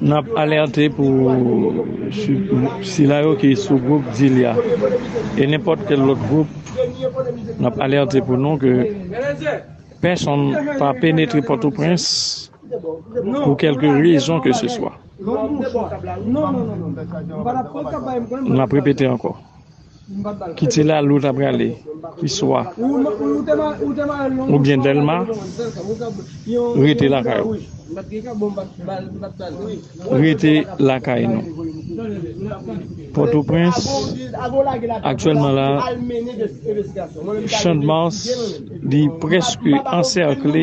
Nap alerte pou sila yo ki sou group Dilya e nenpòt kèl lòt group nap alerte pou nou ke pèsonn pa penetre Pòtoprens pou kèlke rezon ke se swa. Nap repete ankò. Ki ti lari ou ta prale? Ki swa? Ou byen Dèlma? Rete lakay ou. Rete lakay nou. Pòtoprens, aktyèlman la, Chandmas li prèske ansèkle.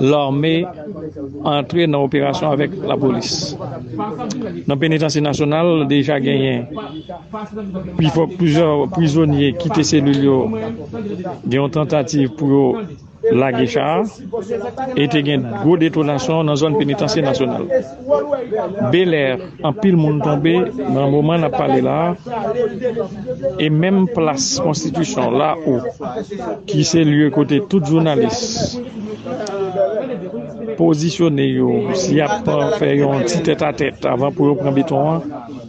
Lame antre nan operasyon avèk lapolis. Nan penitansye nasyonal deja genyen pifò plizyè prizonye kite selil yo gen yon tantativ pou yo lage cha a e te gen gwo detonasyon nan zòn penitansye nasyonal. Belair anpil moun tonbe nan moman nap pale la e menm plas konstitisyon la ou ki se lye kote tout jounalis pozisyone yo si yap fè yon ti tèt a tèt avan pou yo pran beton an